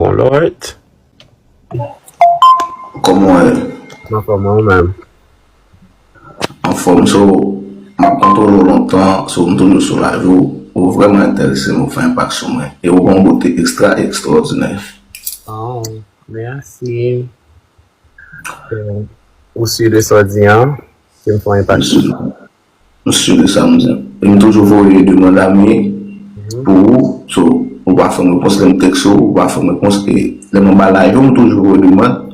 Bon lord. Koman w ye? M anfòm ou menm? Anfòm so m ap kontwole w lontan so m toujou sou live ou. Ou vrèman entèrese m ou fè enpak sou mwen e ou gen yon bote ekstra ekstwòdinè. Aww mèsi ou sur de sa w di an ke m fè yon enpak sou mwen. M sur de sa m di. E m toujou voye demand a me pou ou so ou pa fè m repons lè m text ou ou pa fè m repons e lè m anba live ou m toujou voye demand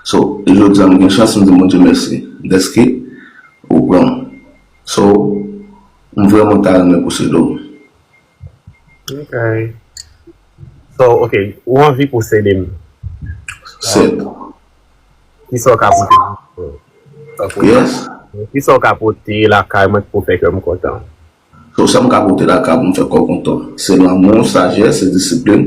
so e jodi a m gen chans m di Bondye mèsi dèske ou pran m so m vrèman ta renmen posede w. Ok So ok ou anvi posede m. 7. Kisa w ka pote lakay mwen? Yes. Kisa w ka pote lakay mwen ki pou fè kè m kontan? So sa m ka pote lakay mwen pou m fè kè w kontan? Se lanmou, sajès, se disiplin.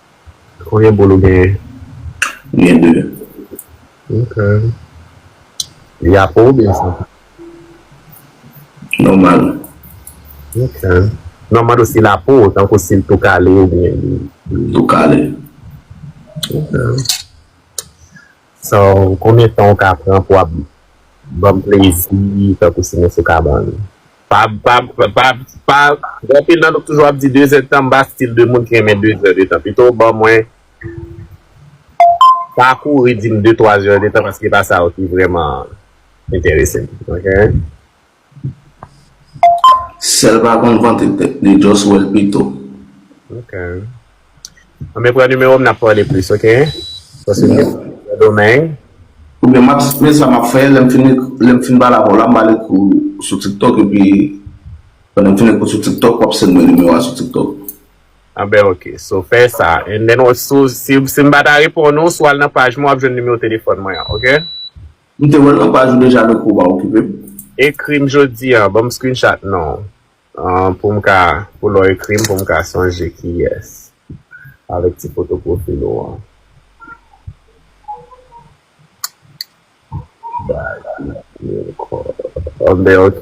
Konbyen boul ou genyen? M gen 2. Ok. Li a po oubyen san po? Nòmal. Ok. Non m mande w si l a po, tankou si l tou kale oubyen li. Tou kale. Ok. So konbyen tan ou ka pran pou ap banm plezi tankou sinon sou kabann. Pa pa pa pa anpil nan nou toujou ap di 2 zè de tan m pa stil de moun ki renmen 2 zè de tan pito w ban mwen pa kouri di m 2 twa zè de tan paske pa sa yo ki vreman enterese m ok. Sèl pa konn vante tèt li just wèl pito. Ok Anben pran numéro m nap pale plis ok paske m gen pou m al sendomeng. Oubyen map men sa map fè lèm fin lèm fin pale avèw la m pale kou sou tiktok epi pandan m fin ak ou sou tiktok wap send mwen numéro a sou tiktok. Anben ok so fè sa and then si m pata reponn ou si w al nan paj mwen wap jwenn numéro telefòn mwen an ok. M te wèl nan paj ou deja Noko pa okipem. Ekrim jodi an banm screenshot non poum ka pou lè w ekrim poum ka sonje kiyès avèk ti foto profil ou an Baz mwen pa gen kò ok.